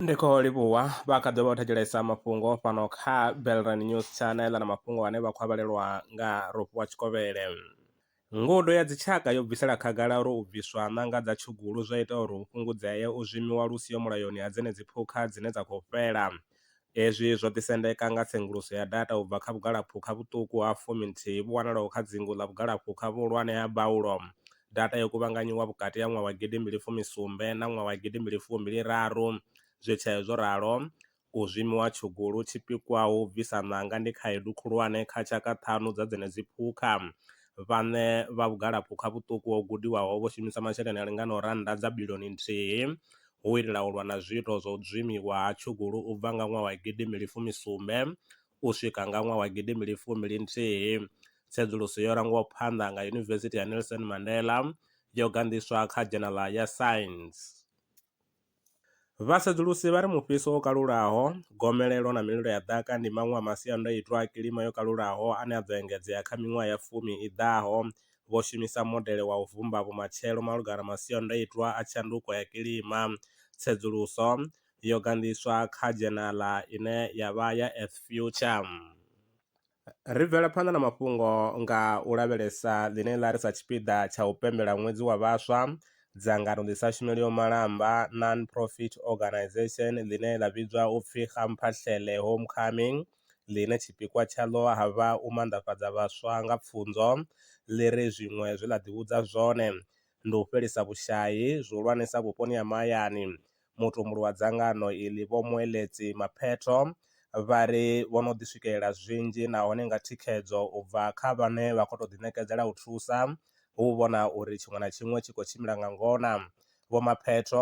ndi khou livhuwa vha kha ḓo vha u thetshelesa mafhungo fhano kha belran news channel na mafhungo ane vha khou avhalelwa nga rofhiwa tshikovhele ngudo ya dzitshaka yo bvisela khagala uri u bviswa ṋanga dza tshugulu zwo ita uri hu fhungudzee u zwimiwa lu siho mulayoni ha dzenedzi phukha dzine dza khou fhela Hezwi zwo ḓisendeka nga tsenguluso ya data u bva kha vhugalaphukha vhuṱuku ha fumi-nthihi vhu wanalaho kha dzingu ḽa vhugalaphukha vhuhulwane ha Baulo. Data yo kuvhanganyiwa vhukati ha ṅwaha wa gidi mbili fumi sumbe na ṅwaha wa gidi mbili fumi mbili raru. Zwi tshee zwo ralo, u zwimiwa tshugulu tshi pikwaho u bvisa ṋanga ndi khaedu khulwane kha tshaka ṱhanu dza dzenedzi phukha. Vhaṋe vha vhugalaphukha vhuṱuku ho gudiwaho vho shumisa masheleni a linganaho rannda dza bilioni nthihi hu u itela u lwa na zwiito zwa u dzimiwa ha tshugulu u bva nga ṅwaha wa gidi mbili fumi sumbe u swika nga ṅwaha wa gidi mbili fumi ḽinthihi. Tsedzuluso yo rangwaho phanḓa nga Yunivesithi ya Nelson Mandela yo ganḓiswa kha dzhenaḽa ya Science. Vhasedzulusi vha ri mufhiso wo kalulaho, gomelelo na mililo ya ḓaka ndi maṅwe a masiandoitwa a kilima yo kalulaho ane a ḓo engedzea kha miṅwaha ya fumi i ḓaho vho shumisa modele wa u vhumba vhumatshelo malugana na masiandaitwa a tshanduko ya kilima. Tsedzuluso yo ganḓiswa kha dzhenaḽa ine ya vha ya Earth Future. Ri bvela phanḓa na mafhungo nga u lavhelesa ḽine ḽa ri sa tshipiḓa tsha u pembela ṅwedzi wa vhaswa, dzangano ḽi sa shumeliho malamba, non-profit organisation, ḽine ḽa vhidzwa u pfi Gamphahlele Homecoming, ḽine tshipikwa tshaḽo ha vha u manḓafhadza vhaswa nga pfunzo, ḽi ri zwiṅwe zwe ḽa ḓivhudza zwone ndi u fhelisa vhushai, zwihulwanesa vhuponi ha mahayani. Mutumbuli wa dzangano iḽi Vho Moeletsi Mapheto vha ri vho no ḓi swikelela zwinzhi nahone nga thikhedzo u bva kha vhane vha khou tou ḓiṋekedzela u thusa, hu u vhona uri tshiṅwe na tshiṅwe tshi khou tshimbila nga ngona. Vho Mapheto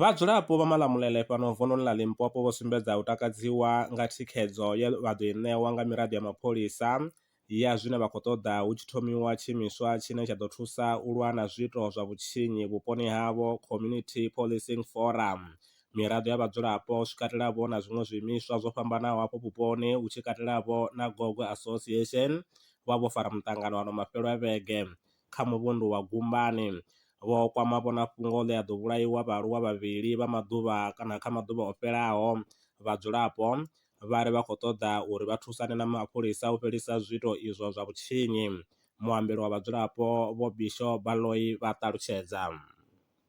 Vhadzulapo vha Malamulele fhano vununi ḽa Limpopo vho sumbedza u takadziwa nga thikhedzo ye vha ḓo i ṋewa nga miraḓo ya mapholisa ya zwine vha khou ṱoḓa hu tshi thomiwa tshiimiswa tshine tsha ḓo thusa u lwa na zwiito zwa vhutshinyi vhuponi havho, Community Policing Forum. Miraḓo ya vhadzulapo zwi katelavho na zwiṅwe zwiimiswa zwo fhambanaho hafho vhuponi hu tshi katelavho na Gogwe Association vha vho fara muṱangano ano mafhelo a vhege. kha muvhundu wa Gumbani. Vho kwama vhonafhungo ḽe a ḓo vhulaiwa vhaaluwa vhavhili vha maḓuvha kana kha maḓuvha o fhelaho. Vhadzulapo vha ri vha khou ṱoḓa uri vha thusane na mapholisa u fhelisa zwiito izwo zwa vhutshinyi. Muambeli wa vhadzulapo Vho Bisho Baloyi vha ṱalutshedza.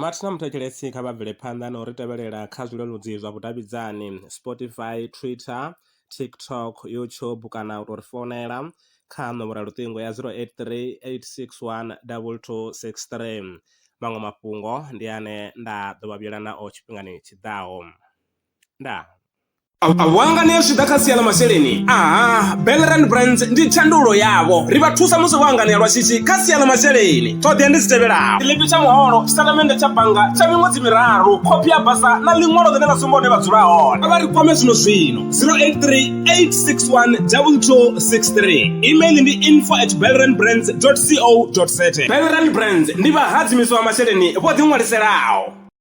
Mathina muthetshelesi kha vha bvele phanḓa na u ri tevhelela kha zwileludzi zwa vhudavhidzani Spotify, Twitter, TikTok, YouTube kana u tou ri founela kha nomboro ya luṱingo ya 083 861 2263. Maṅwe mafhungo ndi ane nda ḓo vha vhuyela nao tshifhingani tshi ḓaho. ndaa Vhuanga ni ya zwi ḓa kha sia ḽa masheleni aha Belleran Brands ndi tshandulo yavho ri vha thusa musi vho anganea lwa shishi kha sia ḽa masheleni ṱhoḓea ndi dzi tevhelaho tshiḽipi tsha muholo tshitatamennde tsha bannga tsha miṅwedzi miraru khophi ya basa na ḽiṅwalo ḽine ḽa sumba hune vha dzula hone vha ri kwame zwino zwino 0838612263 email ndi info at belleranbrands co za Belleran Brands ndi vhahadzimiswa vha masheleni vho ḓiṅwaliselaho